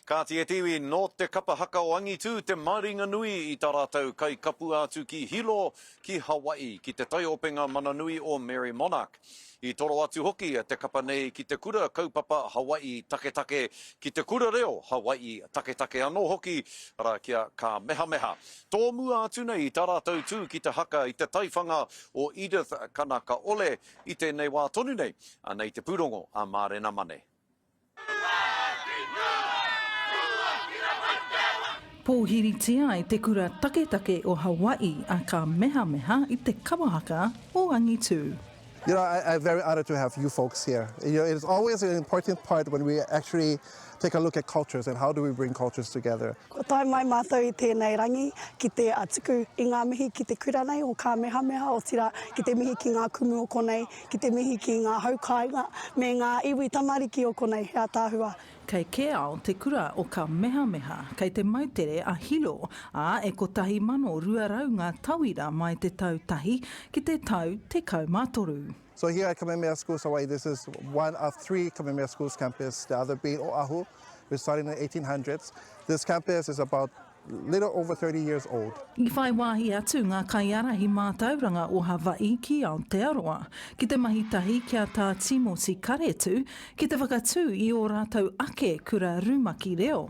Kāti e te iwi, nō te kapa haka o Angitū te maringa nui i tā rātou kai kapua atu ki Hilo, ki Hawaii, ki te taiopenga mana nui o Merrie Monarch. I toro atu hoki te kapa nei ki te kura kaupapa Hawaii taketake, ki te kura reo Hawaii taketake anō hoki, arā, ki a Kāmehameha. Tōmua atu nei i tā rātou tū ki te haka i te taiwhanga o Edith Kanakaole i tēnei wā tonu nei, anei te pūrongo a Mārena Mane. Pōhiritia ai te kura taketake o Hawaii a Ka Mehameha i te Kawahaka o Angitū. You know, I, I'm very honored to have you folks here. You know, it's always an important part when we actually take a look at cultures and how do we bring cultures together. Kua tae mai mātou i tēnei rangi ki te tuku i ngā mihi ki te kura nei o Kāmehameha, otirā, ki te mihi ki ngā kumu o konei, ki te mihi ki ngā hau kāinga, me ngā iwi tamariki o konei, he ataahua. Kei Keao te kura o Kamehameha, kei te moutere a Hilo, ā, e 1200 ngā tauira mai te tau tahi ki te tau tekau mā toru. So here at Kamehameha Schools Hawaii, this is one of three Kamehameha Schools campus, the other being Oahu, which started in the 1800s. This campus is about little over 30 years old. I whai wāhi atu ngā kaiārahi mātauranga o Hawaii ki Aotearoa ki te mahi tahi ki a Tā Tīmoti Karetu ki te whakatū i ō rātou ake kura rumaki reo.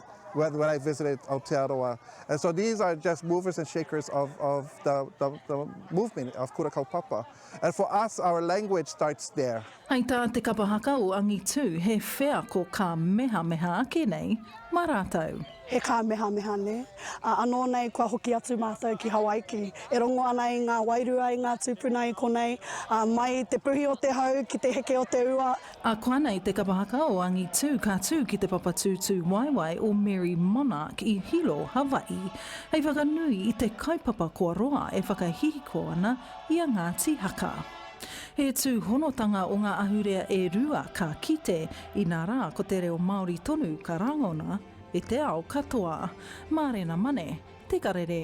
When when I visited Aotearoa, and so these are just movers and shakers of of the the, the movement of Kura Kaupapa, and for us, our language starts there. Hei tā te kapa haka o Angitu, he wheako ka mehameha ake nei mā rātou. He kāmehameha nē. Ā, anō nei kua hoki atu mātou ki Hawaiki. E rongo ana i ngā wairua, i ngā tūpuna i konei, ā, mai i te puhi o te hau ki te heke o te ua, A koanei te kapa haka o angitu ka tū ki te papa tūtū waewae o Mary Monarch i Hilo, Hawaii, hei whakanui i te kaupapa kua roa e whakahihiko ana i a Ngāti Haka. He tūhonotanga o ngā ahurea e rua ka kite, inā rā ko te reo Māori tonu ka rangona e te ao katoa. Mārena Mane, Te Karere.